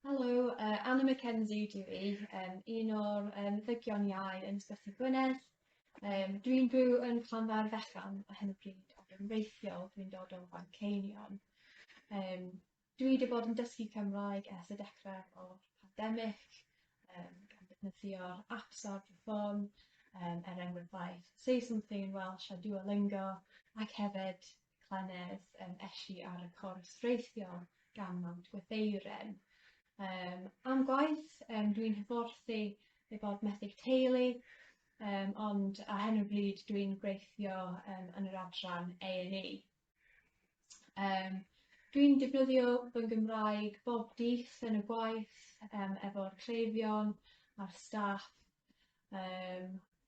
Helo, uh, Anna McKenzie dwi i, um, un o'r um, ddygion iau yn Ysbyty Gwynedd. Um, dwi'n byw yn Llanfair Fechan a hyn o bryd, ac yn reithiol dwi'n dod o Fanceinion. Um, dwi wedi bod yn dysgu Cymraeg ers y dechrau o'r pandemig, um, gan ddefnyddio'r apps ar fy ffôn, um, er enghraifft Say Something in Welsh a Duolingo, ac hefyd llynedd um, eshi ar y cwrs reithiol gan Mount Gwytheiren. Um, am gwaith, um, dwi'n hyfforthu ei bod methyg teulu, um, ond a hen o bryd dwi'n gweithio um, yn yr adran A&E. Um, dwi'n defnyddio fy Gymraeg bob dydd yn y gwaith um, efo'r cleifion a'r staff. Um,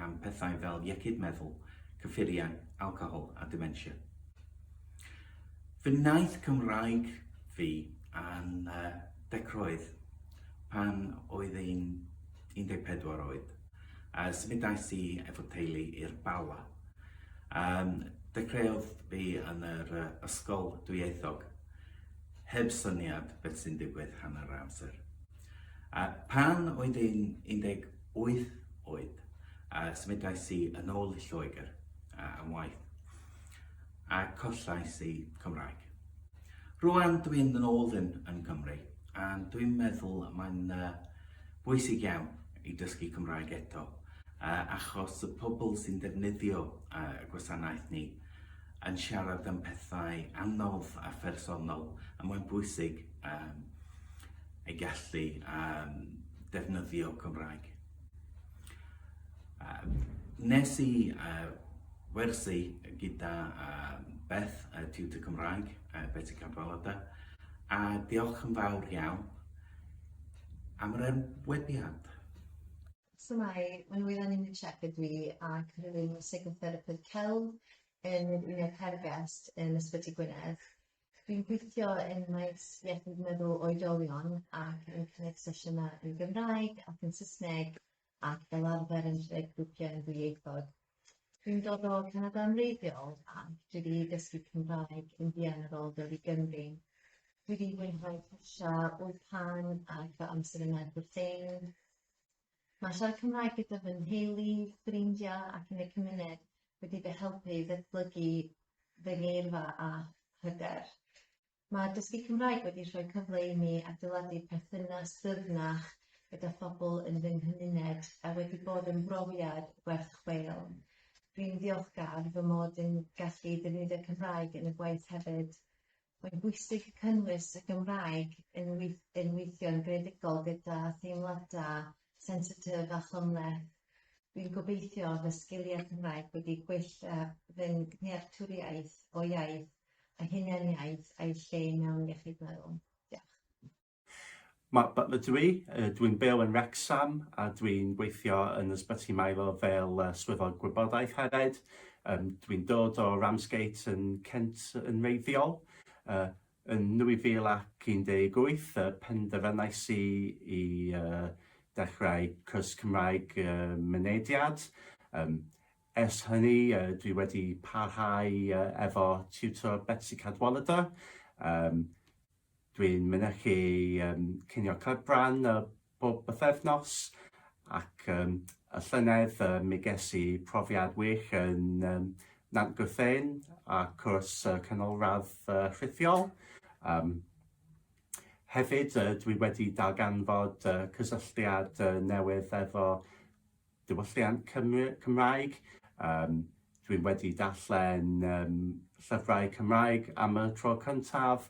am pethau fel iechyd meddwl, cyffuriau, alcohol a dementia. Fy naeth Cymraeg fi a'n uh, decroedd pan oedd ein 14 oed. A symudais i efo teulu i'r Bala. Um, dechreuodd fi yn yr uh, ysgol dwyieithog heb syniad beth sy'n digwydd hanner amser. A pan oedd i'n Wyth oed, a symudais i yn ôl i Lloegr am waith, a collais i Cymraeg. Rwan dwi'n yn ôl yn, yn Cymru, a dwi'n meddwl mae'n uh, bwysig iawn i dysgu Cymraeg eto, uh, achos y pobl sy'n defnyddio uh, y gwasanaeth ni yn siarad am pethau anodd a phersonol, a mae'n bwysig um, ei gallu um, defnyddio Cymraeg. Uh, nes i uh, wersi gyda uh, Beth, uh, Tutor Cymraeg, uh, Betty Cadwaladau, a diolch yn fawr iawn am yr enwebiad. So mae, mae'n wylan i'n check ydw i ac rwy'n psychotherapydd celf yn yr Uned Hergest yn Ysbyty Gwynedd. Dwi'n gweithio yn maes iechyd meddwl oedolion ac yn cynnig sesiynau yn Gymraeg ac yn Saesneg ac fel arfer yn lled grwpiau yn ddwyieithog. Dwi'n dod o Canada yn wreiddiol ac dwi wedi dysgu Cymraeg yn fuan ar ôl dod i Gymru. Dwi wedi mwynhau cyrsiau wyddpan ac fy amser yma yn Brytein. Mae siarad Cymraeg gyda fy nheulu, ffrindiau ac yn y cymuned wedi fy helpu i ddatblygu fy ngeirfa a hyder. Mae dysgu Cymraeg wedi rhoi cyfle i mi adeiladu perthynas dyfnach gyda phobl yn fy nghymuned a wedi bod yn brofiad werth chweil. Rwy'n ddiolchgar fy mod yn gallu defnyddio Cymraeg yn y gwaith hefyd. Mae'n bwysig cynnwys y Gymraeg yn yn weithio'n greadigol gyda theimladau sensitif a chymhleth. Dwi'n gobeithio fy sgiliau Cymraeg wedi gwella fy nhealltwriaeth o iaith a hunaniaeth a'i lle mewn iechyd meddwl. Diolch. Mae fy dwi, dwi'n byw yn Wrecsam a dwi'n gweithio yn Ysbyty Maelor fel Swyddog Gwybodaeth hefyd. Yym dwi'n dod o Ramsgate yn Kent yn wreiddiol. Yy yn 2018 yy penderfynais i i yy dechrau cwrs Cymraeg yy Mynediad. Yym ers hynny yy dwi wedi parhau yy efo tiwtor Betsi Cadwaladr. Yym. Dwi'n mynychu um, cinio cydfran uh, bob bythefnos ac um, y llynedd uh, mi ges i profiad wych yn um, Nant Gwrthein a cwrs uh, canolradd uh, rhithiol. Um, hefyd, uh, dwi wedi darganfod uh, cysylltiad uh, newydd efo diwylliant Cymru, Cymraeg. Um, dwi'n wedi darllen um, llyfrau Cymraeg am y tro cyntaf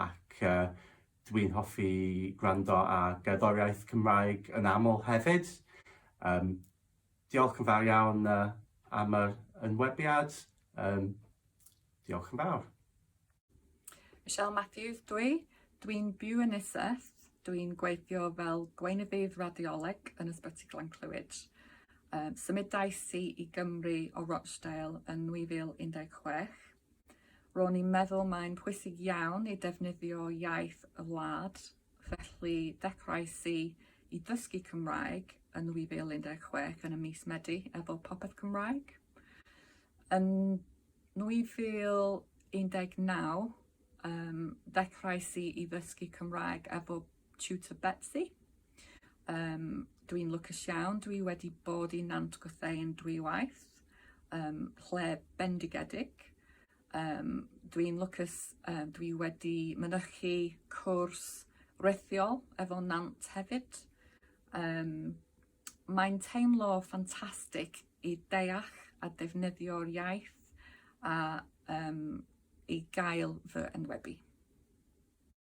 ac uh, dwi'n hoffi gwrando a gerddoriaeth Cymraeg yn aml hefyd. Um, diolch yn fawr iawn uh, am yr ynwebiad. Um, diolch yn fawr. Michelle Matthews dw i. Dw i'n byw yn Nisyth. Dw i'n gweithio fel gweinyddydd radioleg yn Ysbyty Glan Clwyd. Um, symudais i i Gymru o Rochdale yn 2016. Ro'n i'n meddwl mae'n pwysig iawn i defnyddio iaith y wlad, felly dechrauais i i ddysgu Cymraeg yn 2016 yn y mis Medi efo Popeth Cymraeg. Yn 2019 um, ddechrauais i i ddysgu Cymraeg efo tutor Betsy. Um, dwi'n lwcus iawn, dwi wedi bod i Nant Gwrthein dwy waith, um, lle bendigedig. Um, dwi'n lwcus, um, dwi wedi mynychu cwrs rethiol efo Nant hefyd. Um, Mae'n teimlo ffantastig i deall a defnyddio'r iaith a um, i gael fy enwebu.